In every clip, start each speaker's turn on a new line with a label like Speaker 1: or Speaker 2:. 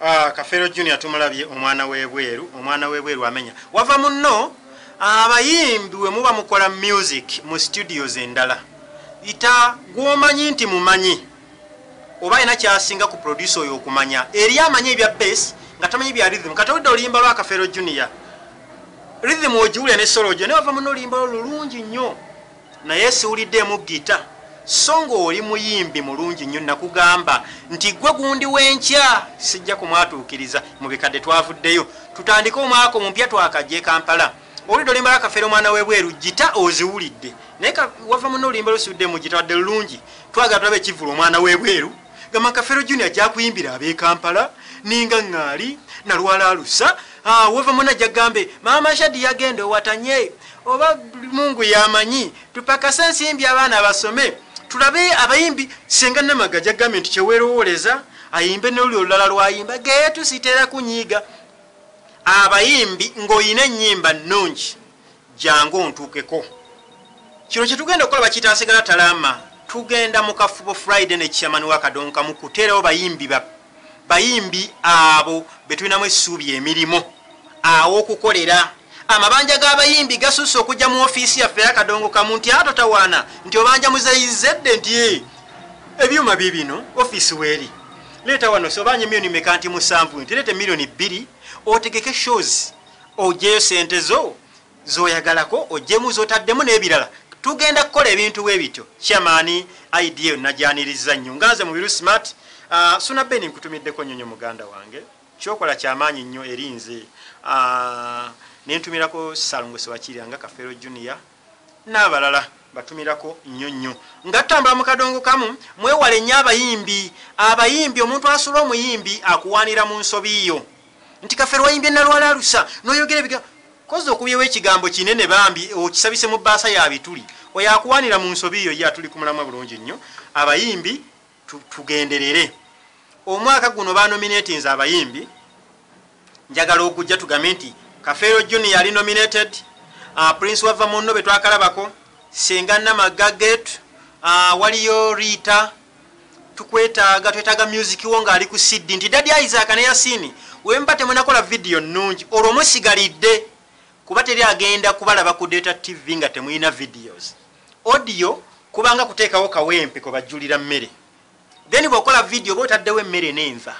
Speaker 1: Aah kafeero junior tumulabye omwana webweru omwana webweru amenya wava munno abayimbi wemuba mukola music mu studios endala ita gwomanyi nti mumanyi oba alina kyasinga ku producer oyo okumanya eri amanyi ebya base nga tamanyi bya rhythm kati oludde oluyimba lwa kafeero junior rhythm ogiwulira ne solo ojo naye wava munno oluyimba lwo lulungi nnyo Naye siwulidemu guitar so nga oli muyimbi mulungi nyo nakugamba nti gwe gundi wenkya sijja kumwatukiriza mubikadde twavuddeyo tutandike omwaka omupya twakajja ekampala owulidde olimba akafere omwana webweru gita oziwulidde naye wava muno olimba lusudde mugita wadde lulungi twagala tulabe ekivulu omwana webweru gamba kafero junior jakuyimbira abekampala ninga ŋŋaali nalwala alusa Haa weva muna jagambe maama shadi yagenda owatanye oba mungu yamanyi tupakase ensimbi abaana basome tulabe abayimbi senga namaga jagambe nti kyewelowoleza ayimbe noluli olulala lwayimba geyetu sitera kunyiiga abayimbi ngoyina enyimba nungi jangu ontuukeko kino kyetugenda okukola bakiyita asigala talama tugenda mukafubo friday ne chairman wakadonkamu kuteerawo bayimbi ba bayimbi abo betulinamu essuubi emirimu awokukolera amabanja g'abayimbi gasusse okujja mu ofiisi yaffe yakadongo kamu nti atotawaana nti obanja muzeyizedde nti eh, ebyuma bye bino ofiisi weeri leeta wano sobanja emiliyoni meka nti musanvu nti leeta emiliyoni bbiri otegeke shows ojeyo sente zo zoyagalako ojjemu zotaddemu nebirala tugenda kukola ebintu bwebityo chairman idea eyo nagyanirizza nnyo nga nze mubiru smart uh, suna ben nkutumiddeko nyonyo muganda wange kyokola kyamaanyi nnyo eri nze uh, nentumirako salongo sewakirira nga kafero junior n'abalala batumirako nnyo nnyo nga tutambula mu kadongo kamu mwewale nnyo abayimbi abayimbi omuntu asula omuyimbi akuwaanira mu nsobi yo nti kafero wayimbye nalwala alusa noyogera ebiga Kozi okubyewo ekigambo kinene bambi okisabise mu baasa ya bituli oyo akuwanira mu nsobi yo ye atuli ku mulamwa bulungi nnyo abayimbi tugenderere omwaka guno ba nominatinze abayimbi njagala okujja tugambe nti kafeero junior yali nominated uh, prince wava munno betwakalabako senga namagga getu uh, waliyo rita tukwetaaga twetaaga music wo ngaali ku cd nti dadi isaac ne yasini wemuba temunakola vidiyo nnungi olwo musigalidde kuba teri agenda kubalaba ku data tv nga temulina videos audio kubanga kuteekawo kawempe kwebajjulira mmere then bwokola vidiyo oba otaddewo emmere nenva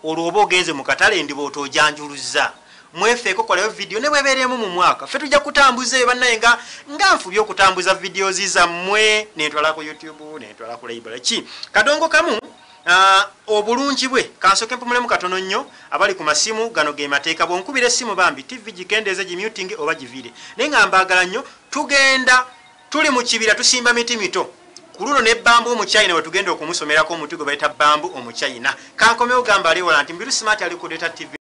Speaker 1: Olwo oba ogenze mu katale endiba otojanjuluzza. Mwefeeko kolayo video nebwebeera emu mu mwaka. Ffe tujja kutambuza eyo banaye nga nga nfubye okutambuza videos zammwe nentwala ku YouTube nentwala ku library ki kadongo kamu Uh, obulungi bwe kansoke mpumulemu katono nnyo abali ku masimu gano ge mateeka bwonkubira essimu bambi tv gikendeeze gimutinge oba givire naye nga mbaagala nnyo tugenda Tuli mu kibira tusimba miti mito. Ku luno ne Bamboo Omuchina we tugenda okumusomerako omuti gwe bayita Bamboo Omuchina. Kankomewo gamba ali ewala nti Mbiru Smart ali ku Data TV.